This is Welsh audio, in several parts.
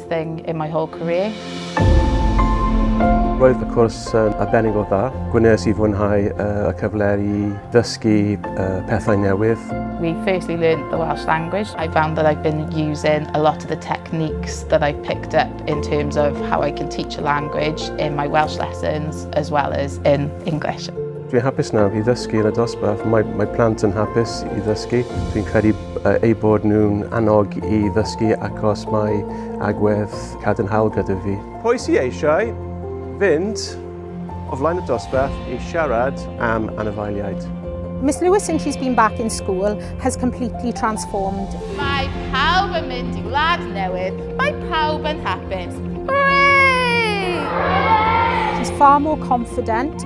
best thing in my whole career. Roedd y cwrs yn arbennig o dda. Gwnes i fwynhau uh, y cyfle i ddysgu uh, pethau newydd. We firstly learned the Welsh language. I found that I've been using a lot of the techniques that I've picked up in terms of how I can teach a language in my Welsh lessons as well as in English. Dwi'n hapus nawr i ddysgu yn y dosbarth. Mae, mae plant yn hapus i ddysgu. Dwi'n credu eu bod nhw'n annog i ddysgu achos mae agwedd cadarnhaol gyda fi. Pwy sy eisiau fynd o flaen y dosbarth i siarad am anifeiliaid? Miss Lewis since she's been back in school has completely transformed. Mae pawb yn mynd i wlad newydd, mae pawb yn hapus. Hooray! She's far more confident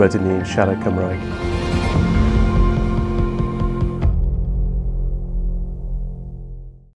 rydyn ni'n siarad Cymraeg.